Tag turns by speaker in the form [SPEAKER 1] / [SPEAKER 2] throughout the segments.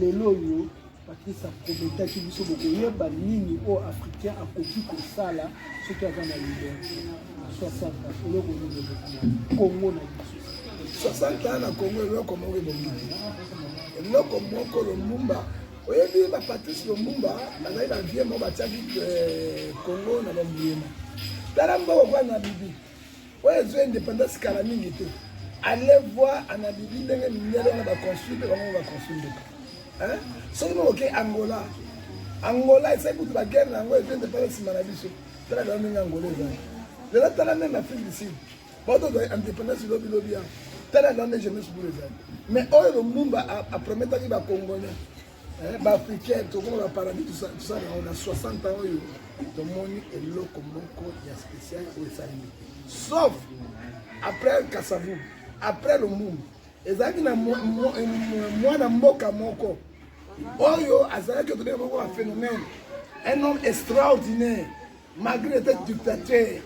[SPEAKER 1] lelo oyo patrice akometaki biso bokoyeba nini oyo africain akoki kosala soki aza na liberte Congo na biso 60 ans na Congo
[SPEAKER 2] eloko moko ebongi eloko moko Lumumba oyebi ba Patrice Lumumba bazali na vie moko batiaki euh, Congo na bambuyema tala mboko kwa na bibi oyo ezwi indépendance kala mingi te allez voir ana bibi ndenge mindele wana baconstru mpe bango baconstru ndoka soki mokoke angola angola esali kutu baguerre na yango ezwi indépendance nsima na biso tala kala ndenge angola ezali lelo tala ndenge afrique du sud bato ozali indépendance lobi lobi yango tala kala nde jeunesse bulu ezali mais oyo lomumba aprometaki bacongolais eh, baafricain tokoma baparadis tosala yango na 60 ans oyo tomoni eloko moko ya spécial oyo esalemi sauf après kasavu après lomumba ezalaki na mwana mboka moko oyo azalaki otobeka moko ba phénomène un homme extraordinaire malgré était dictateur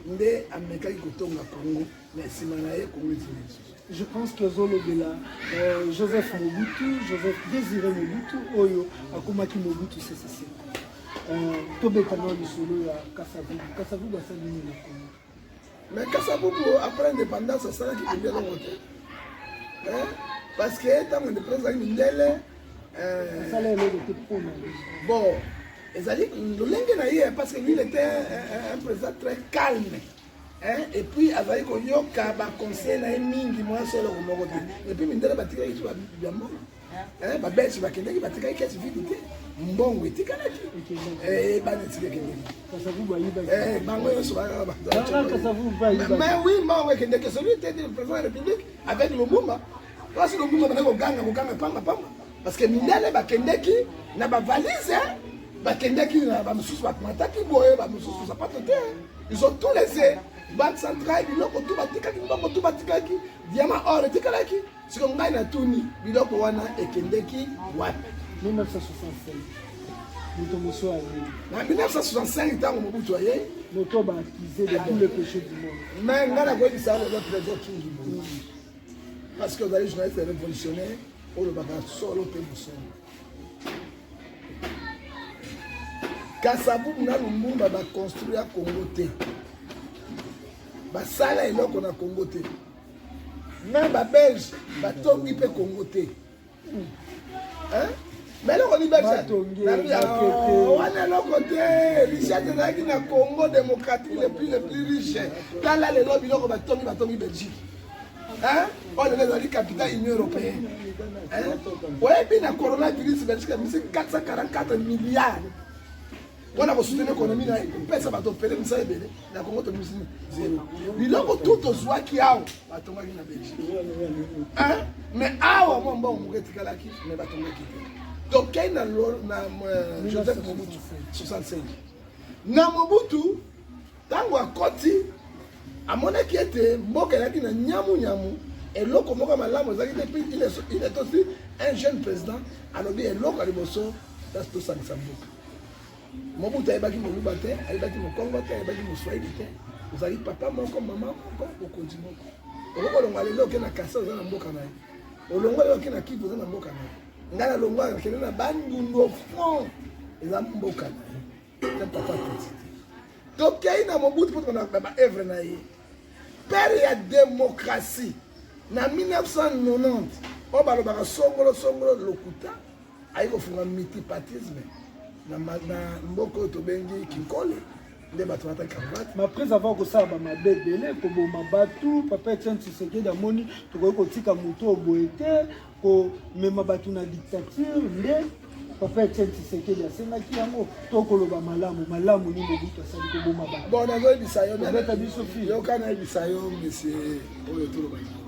[SPEAKER 2] nde amekaki kotonga congo na nsima na ye congo ezili lisusu je pense que
[SPEAKER 1] ozolobela euh, joseph mobutu joseph désiré mobutu oyo akomaki mobutu sesese euh, tobeta na lisolo ya kasavubu kasavubu asali nini na congo Mais
[SPEAKER 2] Kasabubu après indépendance asalaki bibi eloko te parce que ntango indépendance azalaki
[SPEAKER 1] mindele bon
[SPEAKER 2] ezali lolenge na ye parce que il était un président très calme et puis azali koyoka baconseil na ye mingi mwasi eloko moko te et puis mindele batikaki biso ya mbongo Eh, ba belge bakendaki batikaki kesi vide te mbongo etikalaki eh, bana esika ekendeki eh, bango
[SPEAKER 1] nyonso mais oui mbongo ekendeki
[SPEAKER 2] celui te du président ya république avec lobumba place lobumba bana koganga koganga pamba pamba parce que mindele bakendeki na bavalise bakendeki na bamosusu bamataki boye bamosusu sapato te ils ont tout laissé banque centrale biloko tu batikaki mbongo tu batikaki diama or etikalaki siko ngai natuni biloko wana ekendeki wapi 1965
[SPEAKER 1] moto mosusu ayei na 1965
[SPEAKER 2] ntango mobutu ayei moto baakize
[SPEAKER 1] de tous les péchés du monde mais ngai nakoyebisa
[SPEAKER 2] lelo trésor kingi boye parce que ozali journaliste révolutionnaire olobaka solo mpe mosolo kasavubu na lumbumba baconstruire ya congo te basala eloko na congo te Même ba belge ba tongi pe Congo te. Hein? Mais eloko ni belge wana eloko te richesse ezalaki na congo démocratique le plus le plus riche tala lelo biloko batongi batongi belgique oyo lelo ezali capital union européenne oyebi na coronavirus belgique amisi 444 milliard mpona kosutena ekonomi na ye kopesa bato pele misala ebele na kongo tobimisi zero biloko tu tozwaki awa batongaki na belgique mais awa mwa mbongo moko etikalaki me batongaki te tokei na euh, joseph mobutu 65 na mobutu ntango akoti amonaki ete mboka ezalaki na nyamunyamu eloko moko ya malamu ezalaki te mpe il est aussi un jeune président alobi eloko ya liboso kasi tosangisa mboka Mobutu ayebaki moluba te, ayebaki mokongo te, ayebaki moswahili te. Ozali papa moko, mama moko, mokonzi moko. Okoki kolonga lelo oke na kasa oza na mboka na ye. Olongwa lelo oke na Kivu oza na mboka na ye. Ngai nalongwa akende na Bandundu au fond eza mboka na ye. Eza papa petit. Tokei na Mobutu mpo tokona ba œuvre na ye. Père ya démocratie na 1990 oyo balobaka songolo songolo lokuta aye kofunga multipartisme na mboka oyo tobengi kinkole nde bato bata cravate ma prise avant kosala
[SPEAKER 1] bamabe ebele koboma bato papa etienne tshisekedi amoni tokoki kotika moto oyo boye te komema bato na dictature nde papa etienne tshisekedi asengaki yango to koloba malamu malamu ni mobutu asali koboma bato bon nazoyebisa yo
[SPEAKER 2] obeta biso fi yoka
[SPEAKER 1] nayebisa yo
[SPEAKER 2] monsieur oyo tolobaki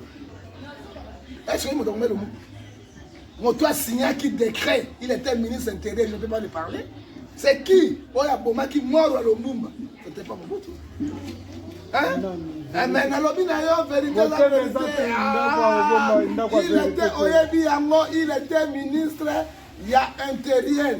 [SPEAKER 2] est ce que moto akomeli moto asignaki décret il était ministre intérieur je ne peux pas le parler c'est qui oyo abomaki moro ya lombumba c'était pas mobutu hein eh, mais nalobi na yo vérité la vérité ah, il était oyebi yango il était ministre ya intérieur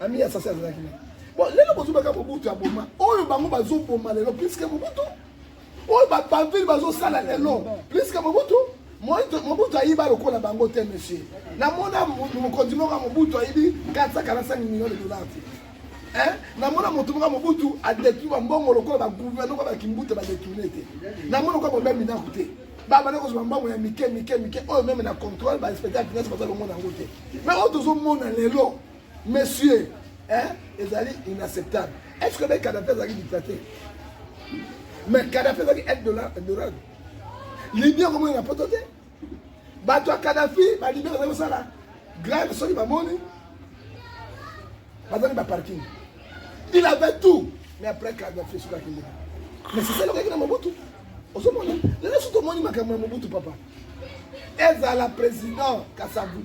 [SPEAKER 2] ami ya sasi azalaki na bon lelo bozobaka mobutu ya boma oyo bango bazoboma lelo puiske mobutu oyo bapavile bazosala lelo puiske mobutu mobutu ayiba lokola bango te monsieur namona mokonzi moko ya mobutu ayibi 445 million de dollar te namona moto moko mobutu adetruire bambongo lokola bagouverne oka bakimbuta badetourne te namona oka bombe minaku te babanda kozwa mbongo ya mike mike mike oyo meme na contrôle bainspecteur ya finance baza lomona yango te mais oyo tozomona lelo monsieur hein ezali inacceptable est ce que mpe kadafi azalaki dictateur mais kadafi azalaki aide dorado libi akomona na poto te bato ya kadafi balibi bazali kosala grave soki bamoni bazali baparking il avait tout mais après kadafi esukaki ndenge mais sisele okaki na mobutu ozomona lelo so tomoni makambo ya mobutu papa ezala président kasabu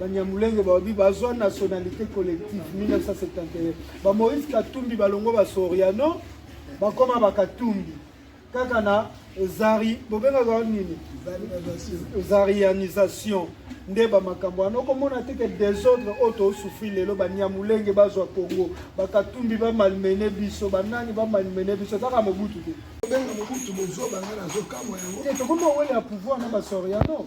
[SPEAKER 1] banyamulenge balobi bazwa nationalité collective 1971 ba moïse katumbi balongo ba soriano bakoma bakatumbi kaka na zari bobengaka wana nini zarianisation nde bamakambo wana okomona te ke desordre oyo tosufri lelo banyamulenge bazwa congo bakatumbi bamalmene biso banani bamalmene biso kaka mobutu te tobenga mobutu
[SPEAKER 2] bozoba nga nazokamwa yango tokomi owele ya pouvoir
[SPEAKER 1] na basoriano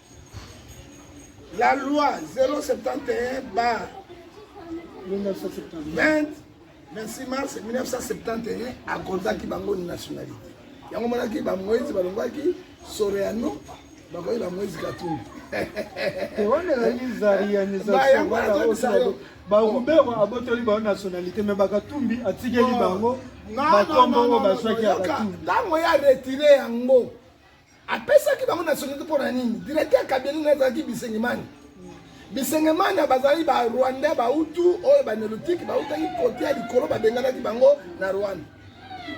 [SPEAKER 2] La loi 071 bar 20 26 mars 1971 akordaki bango nationalité yango monaki bamoise balongwaki soreano bakoki na moise katumbi
[SPEAKER 1] barubero abotoli bango nationalité me bakatumbi atikeli bango bakombo oyo bazwaki ya katumbi ntango ya retire
[SPEAKER 2] yango Apesaki bango nationalite mpo na nini? Directeur ya cabinet na ezalaki Bisengemani. Bisengemani bazali ba Rwanda ba Hutu oyo ba Neolithique bautaki kote ya likolo babenganaki bango na Rwanda.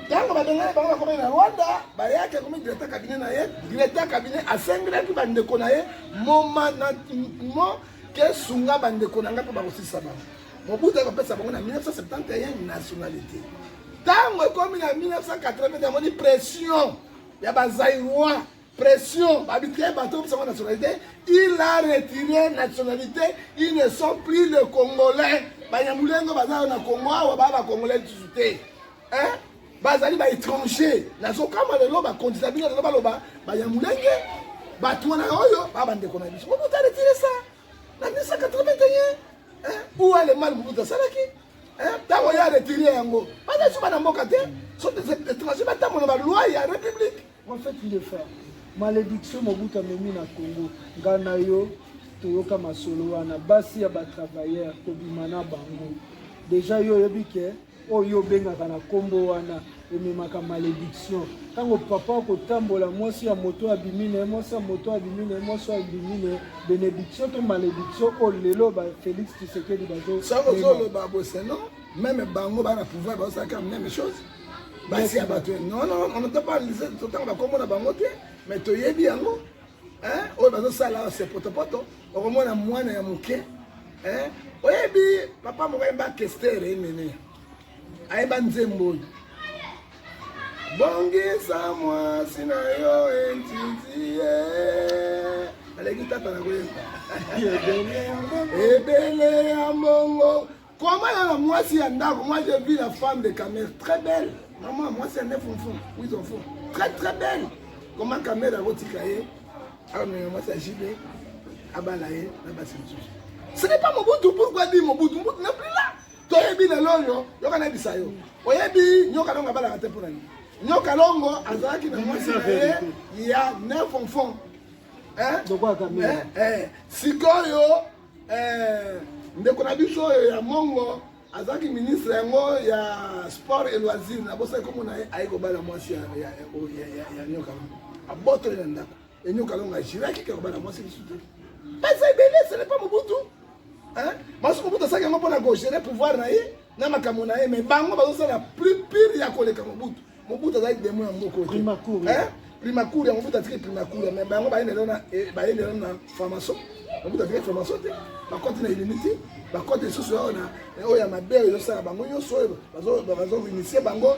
[SPEAKER 2] Ntango babengani bango bakomaki na Rwanda, bayaki akomi directeur cabinet na ye. Directeur cabinet asengelaki bandeko na ye moma na mo ke sunga bandeko na ngai mpo bakosisa bango. Mobutu akopesa bango na 1971 nationalité. Ntango ekomi na 1980 amoni pression ya ba Zaïrois pression babitike bato obisaka nationalité il a retiré nationalité ils ne sont plus le congolais banyamulenge baza na congo awa baa bacongolais lisusu te bazali baétranger nazokama lelo bakondisa bino lelo baloba banyamulenge bato wana oyo baa bandeko na biso mobutu aretire sa na 1981 ou alemane mobutu asalaki ntango ya retire yango baza suba na mboka te soetranger batambola baloi ya république en fait il est fort
[SPEAKER 1] malédiction mobutu amemi na congo nga na yo toyoka masolo wana basi ya batravailleur tobima na bango deja yo oyebi ke oyo obengaka na nkombo wana ememaka malediction ntango papa akotambola mwasi ya moto abimi na ye mwasi ya moto abimi na ye mwasi abimi na ye benediction to malediction oyo oh, lelo ba félix tshisekedi bazozoloba
[SPEAKER 2] boseno meme bango bana pouvoir bazosalaka meme chose basi ya bato nono onata balise totango bakomona bango te me toyebi yango oyo bazosala se potopoto okomona mwana ya moke oyebi papa moko yemba kestere enene ayeba nzembo oyo bongisa mwasi na yo entiti aleki tata na koyemba ebele ya mongo koma na mwasi ya ndako moi je vis la femme de camere très belle maman mwasi ya nef mfu oui mfu très très belle koma camere akotika ye akomema mwasi ya jibe abala ye na basi mosusu ce n'est pas mobutu pourquoi dit mobutu mobutu na plus là toyebi lelo oyo yoka nayebisa yo oyebi nyoka longo abalaka te mpo na nini nyoka longo azalaki na mwasi na ye ya neuf enfant
[SPEAKER 1] sikoyo
[SPEAKER 2] ndeko na biso oyo ya mongo azalaki ministre yango ya sport et loisir nabosaki komona ye aye kobala mwasi ya nyoka abotoli na ndako Enyo Kalonga ajiraki kaka bana mwasi lisusu te. Baza ebele, ce n'est pas Mobutu. Hein? Masu Mobutu asaki yango mpo na kogere pouvoir na ye na makambo na ye, mais bango bazosala plus pire ya koleka Mobutu. Mobutu azali demo ya moko te. Primacourt. Hein?
[SPEAKER 1] Primacourt
[SPEAKER 2] ya Mobutu atiki Primacourt, mais bango bayende lelo na eh, bayende lelo na formation. Mobutu atiki formation te. Bakoti na illimité, bakoti lisusu oyo na oyo ya mabe oyo ezosala bango nyonso oyo bazo bazo initie bango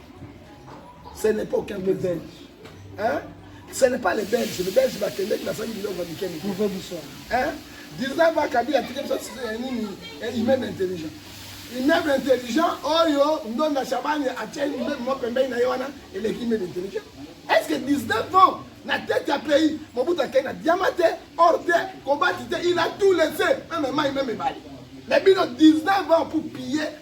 [SPEAKER 2] ce n'est pas aucun de belge hein ce n'est pas les belges les belges bakendeki basali biloko ya mike mike
[SPEAKER 1] hein
[SPEAKER 2] 19 ans kabila atiki biso ya nini immeuble intelligent immeuble intelligent oyo ndonda shabani atie immeuble moko pembeni na ye wana eleki immeuble intelligent est ce que 19 ans na tete ya pays mobutu akei na diama te or te kobati te il a tout laissé meme mai meme ebale mais bino 19 ans pour piller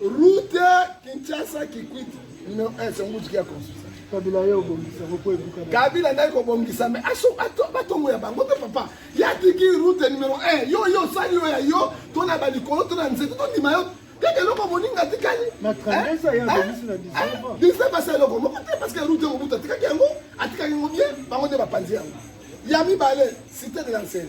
[SPEAKER 2] Route Kinshasa Kikwit numéro 1 c'est Mbuji qui a construit ça. Kabila yo bongisa
[SPEAKER 1] ko ebuka. Kabila ndai ko bongisa
[SPEAKER 2] mais aso ato batongo ya bango pe papa. Ya tiki route numéro 1 yo yo sali yo ya yo to na ba likolo to na nzete to ndima yo kaka eloko moninga atikali na 19 ya
[SPEAKER 1] bongisi na 19 19 asa eloko moko te
[SPEAKER 2] parce que route yango buta atikaki yango atikaki yango bien bango nde bapanzi yango ya mibale cité de l'ancienne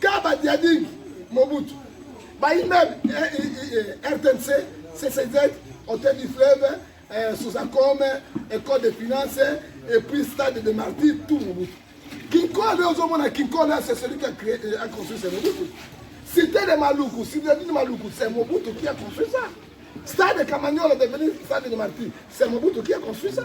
[SPEAKER 2] Kaba Diading Mobutu ba immeuble RTNC CCZ Hôtel du Fleuve euh, Sozacom École de Finance et puis Stade de Martyrs tout Mobutu Kinkole ozomona Kinkole c'est celui qui a créé a construit ce Mobutu Cité de Maluku Cité de Maluku c'est Mobutu qui a construit ça Stade de Camagnola devenu Stade de Martyrs c'est Mobutu qui a construit ça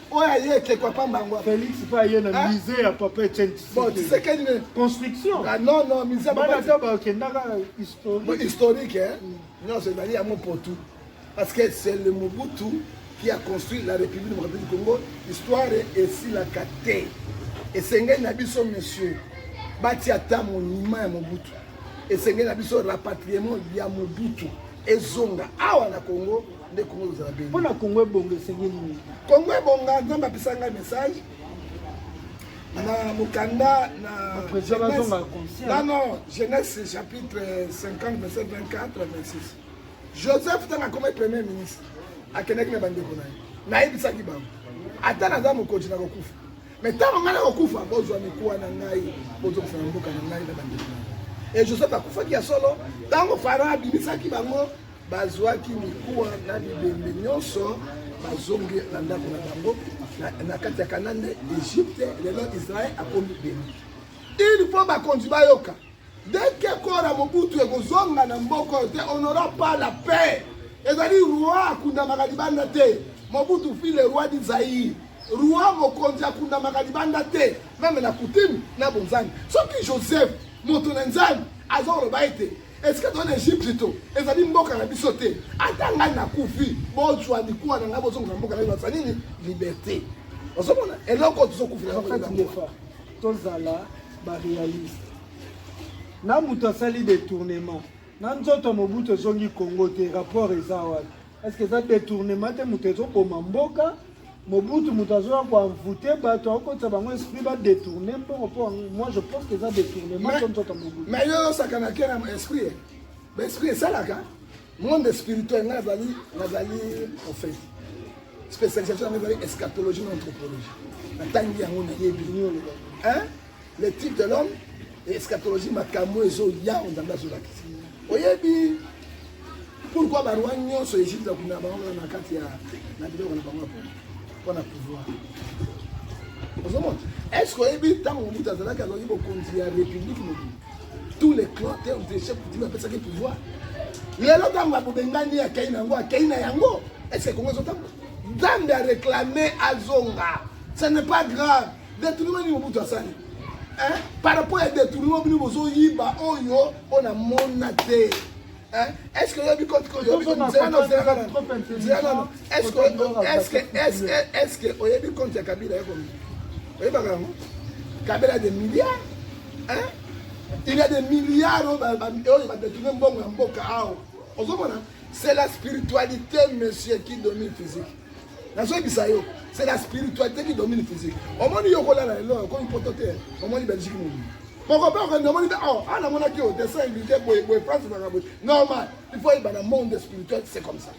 [SPEAKER 2] oyo aye ekeko ya pamba yango felix mpe aye na
[SPEAKER 1] musée ya papa etienne tisekedi ne
[SPEAKER 2] construction ah, non
[SPEAKER 1] non musée
[SPEAKER 2] bana ata bakendaka
[SPEAKER 1] historique historique
[SPEAKER 2] mm. nyonso ezali yango potu parce que c'est le mobutu qui a construit la république démocratique du congo histoire esilaka te esengeli na biso monsieur batia ata monima ya mobutu esengeli na biso rapatriement ya mobutu ezonga awa na congo nde Congo ozala beni. Mpo na Congo ebonga
[SPEAKER 1] esengeli nini? Congo ebonga,
[SPEAKER 2] Nzambe apesa ngai message na mokanda na
[SPEAKER 1] non
[SPEAKER 2] jeunesse chapitre 50 verset 24 26 joseph ntango akomi premier ministre akendaki na bandeko na ye nayebisaki bango ata naza mokonzi na kokufa me ntango ngai nakokufa bozwa mikuwa na ngai bozokisa na mboka na ngai na bandeko na ye e joseph akufaki ya solo ntango fara abimisaki bango Bazwaki mikuwa na bibembe nyonso, bazongi na ndako na bango na kati ya Kanana, Egypte, lelo Israël akomi beni. Il faut bakonzi bayoka dès que Kora Mobutu ekozonga na mboka oyo te, on n'aura pas la paix. Ezali roi akundamaka libanda te. Mobutu fut le roi du Zaïre. Roi mokonzi akundamaka libanda te, meme na coutume na bonzambe. Soki Joseph moto na nzambe azoloba ete Est-ce que dans l'Égypte to ezali mboka na biso te ata ngai nakufi bozwa likuwa na ngai bozongisa mboka na bino nini liberté ozomona eloko tozokufela
[SPEAKER 1] tozala baréaliste na moto asali détournement na nzoto mobutu ezongi congo te rapport eza wapi Est-ce que eza detournement te moto ezoboma mboka Mobutu moto azoya ko envoûter bato akokotisa bango esprit ba détourner mbongo mpo moi je pense que eza détournement to nzoto Mobutu. Mais yo osakana ke
[SPEAKER 2] na esprit ba esprit esalaka monde spirituel ngai nazali nazali prophète spécialisation yango ezali eschatologie na anthropologie natangi yango nayebi le type de l'homme et eschatologie makambo ezo ya ondanda zo lakisa oyebi pourquoi ba roi nyonso Egypte ya kuna bango na kati ya na biloko na bango pour na pouvoir ozomona est ce que oyebi ntango mobutu azalaki azalaki bokonzi ya république mobili tous les clans te odeshe putin apesaki pouvoir lelo ntango abobengani akei na yango akei na yango est ce que kongo ezotambola nzambe areklame azonga ce n'est pas grave Detournement nini Mobutu asali? Hein? Par rapport ya detournement bino bozoyiba oyo oyo namona te. Est-ce que oyebi koti koyobi Est-ce que oyebi compte ya Kabila yako oyebaka yango? Kabila des milliards hein? Il y a des milliards oyo badetourne mbongo ya mboka awa ozomona c'est la spiritualité monsieur qui domine physique nazoyebisa yo c'est la spiritualité qui domine physique omoni yo kolala lelo okomi poto te omoni belgique mobili mokope okende omoni te awa a namonaki yo dessin illuté boye boye france ezalaka boye normal il faut yeba na monde spirituel c'est comme ça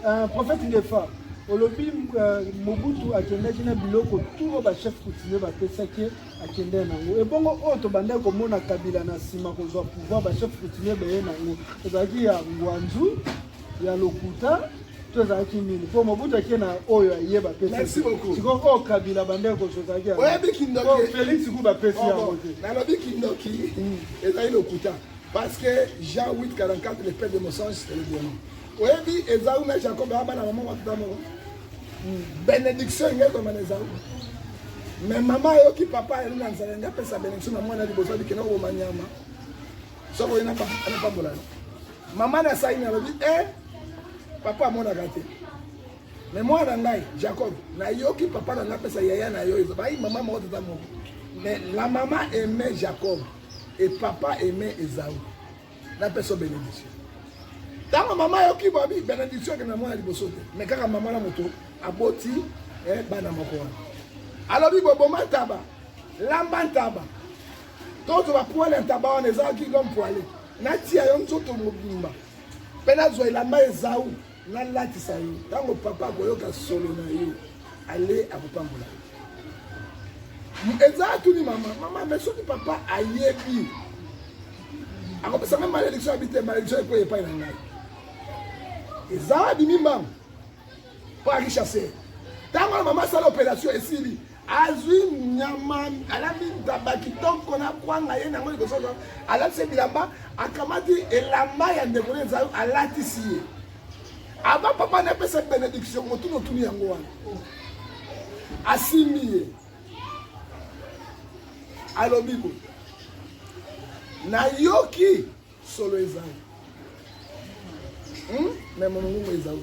[SPEAKER 2] euh, prophète ndefa
[SPEAKER 1] olobi euh, mobutu akendaki na biloko turo bachef coutumier bapesaki akende nango ebongo oyo oh, tobandaki komona kabila na nsima kozwa pouvoir bachef coutumier baye nango ezalaki ya ngwanzu ya lokuta to ezalaki nini mpo mobutu ake na oyo aye bapesi sikoyo oyo
[SPEAKER 2] kabila
[SPEAKER 1] bandeko koso ezalaki
[SPEAKER 2] felix ku bapesi oh,
[SPEAKER 1] yango te nalobi kindoki
[SPEAKER 2] hmm. ezali lokuta parce que jean 844 le père de mossange c'est le bono oyebi eza una jacob aba na mama matuta moko hmm. bénédiction inge ekoma na eza mais mama ayoki papa ayeli na nzala nde apesa bénédiction na mwana liboso abikenda koboma nyama soko ye napambola yo mama na saini alobi e eh, papa amonaka te me mwana na ngai jacob nayoki papa na ngai apesa yaya na yo ezo bayi mama moko tata moko me la mama aime jacob e papa aime ezau napesa benediction ntango mama ayoki babi benediction akende na mwana liboso te me kaka mama na moto aboti eh, bana moko wana alobi boboma ntaba lamba ntaba tozo ba poil ya ntaba wana eza ki l'homme poile natia yo nzoto mobimba mpe nazwa elamba ezau nalatisa yo ntango papa akoyoka solo na yo ale akopambola yo eza atuni mama mama me soki papa ayebi akopesa ngai malediction abi te malediction eko epai na ngai eza abimi mbango mpo akishase ntango wana mama asala operation esili azwi nyama alandi ntaba kitoko na kwanga ye nango liboso alatisi ye bilamba akamati elamba ya ndeko na ezayo alatisi ye ava papa na epesa benediction motuni otuni yango wana asimbi ye alobi boye nayoki solo ezali hmm? me mongongo ezau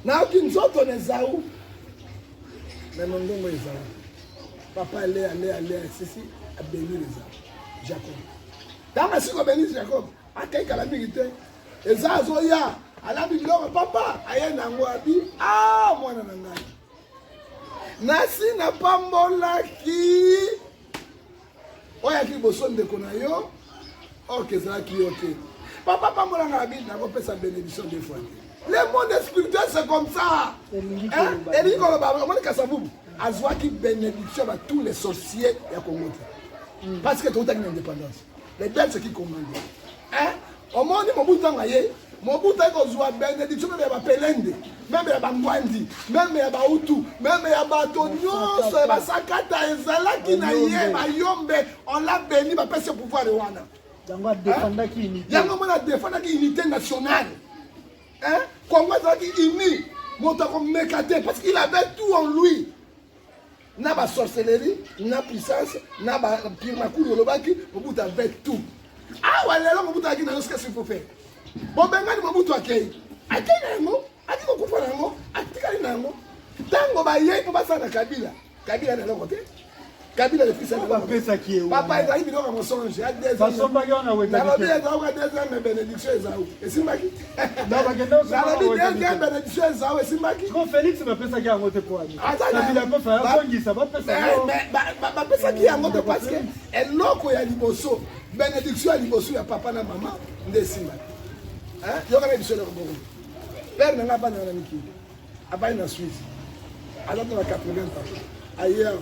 [SPEAKER 2] nayoki nzoto na ezau me mongongo ezau papa alea alea alea esisi abengili ezau jacob ntango asiko abengisi jacob akei kala mingi te eza azoya alambi biloko papa aye nango abi a ah, mwana na ngai nasi napambolaki oyaki liboso ndeko na yo orke ezalaki yo te papa pambola nga na bini nakopesa benediction de fois te le monde spirituel c'est comme ça elingi koloba omoni kasavubu azwaki benediction ba tous les sorciers ya congo te hmm. parce que toutaki na indépendance les belles c'est qui commande eh, omoni mobutu ntango aye mobutu aye kozwa benediction meme ya bapelende meme ya bangwandi meme ya bautu meme ya bato nyonso ya basakata ezalaki na ye bayombe on l'a beni bapesi pouvoir wana yango adefandaki eh? unité yango mona adefandaki unité nationale eh? kongo ezalaki uni moto akomeka te parce qu'il avait tout en lui na ba sorcellerie na puissance na ba pire makulu olobaki mobutu avait tout awa ah, lelo mobutu ayaki na yo sika sipofere bobengani mobutu akei akei na yango ati kokufa na yango atikali na yango ntango bayei mpo basala na kabila kabila na eloko te kabila lepesapesaki ye papa ezali biloko ya mosonge ya desanalobi ezalaka desange benediction ezau esimbaki bapesaki yango te parce que eloko ya liboso benediction ya liboso ya papa na mama nde esimbaki yokana biso eloko bongo pere na ngai abandaka na mikili Abali na Suisse. Alata na 80 ans. Ayer,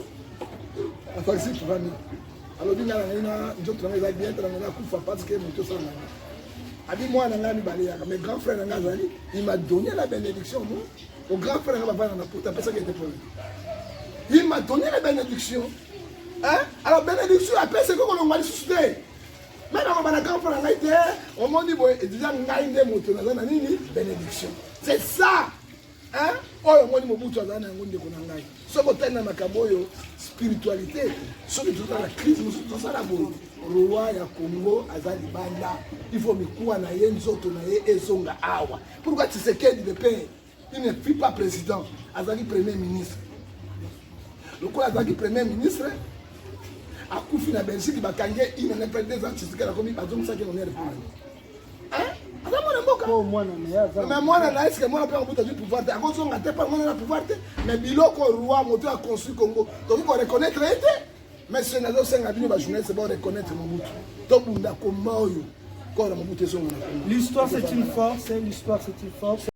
[SPEAKER 2] afakisi tuvami. Alobi nga na ngai na nzoto na ngai eza bien, tala ngai nakufa parce que moto osala na ngai. Abi mwana na ngai mibale yaka, mais grand frère na ngai azali, il m'a donné la bénédiction, moi. Au grand frère na ngai bavanda na poto, apesaki ete pole. Il m'a donné la bénédiction. Hein? Alors bénédiction apesaki kolongwa lisusu te. Mais nakoloba na grand frère na ngai te omoni boye deja ngai nde moto naza na nini bénédiction c'est ça hein oyo omoni mobutu azali na yango ndeko na ngai soki otali na makambo oyo spiritualité soki toza na crise mosusu tosala boye roi ya congo aza libanda ifo mikuwa na ye nzoto na ye ezonga awa pourkui tisekedi de pere Il ne fut pas président, azalaki premier ministre. lokola azalaki premier ministre akufi na belgique bakangi ye ine na mpe deux ans tshisekedi akomi bazongisaki honneur mpo na ye aza mwana mboka oh, mais mwana na eske mwana mpe akobuta du pouvoir te akozonga te mpo mwana na pouvoir te mais biloko roi moto ya construit congo tokoki koreconnaitre ye te mais soki nazosenga bino bajournaliste bareconnaitre mobutu tobunda koma oyo kora
[SPEAKER 1] mobutu
[SPEAKER 2] ezonga
[SPEAKER 1] na congo l'histoire
[SPEAKER 2] c'est
[SPEAKER 1] une
[SPEAKER 2] force
[SPEAKER 1] l'histoire
[SPEAKER 2] c'est
[SPEAKER 1] une
[SPEAKER 2] force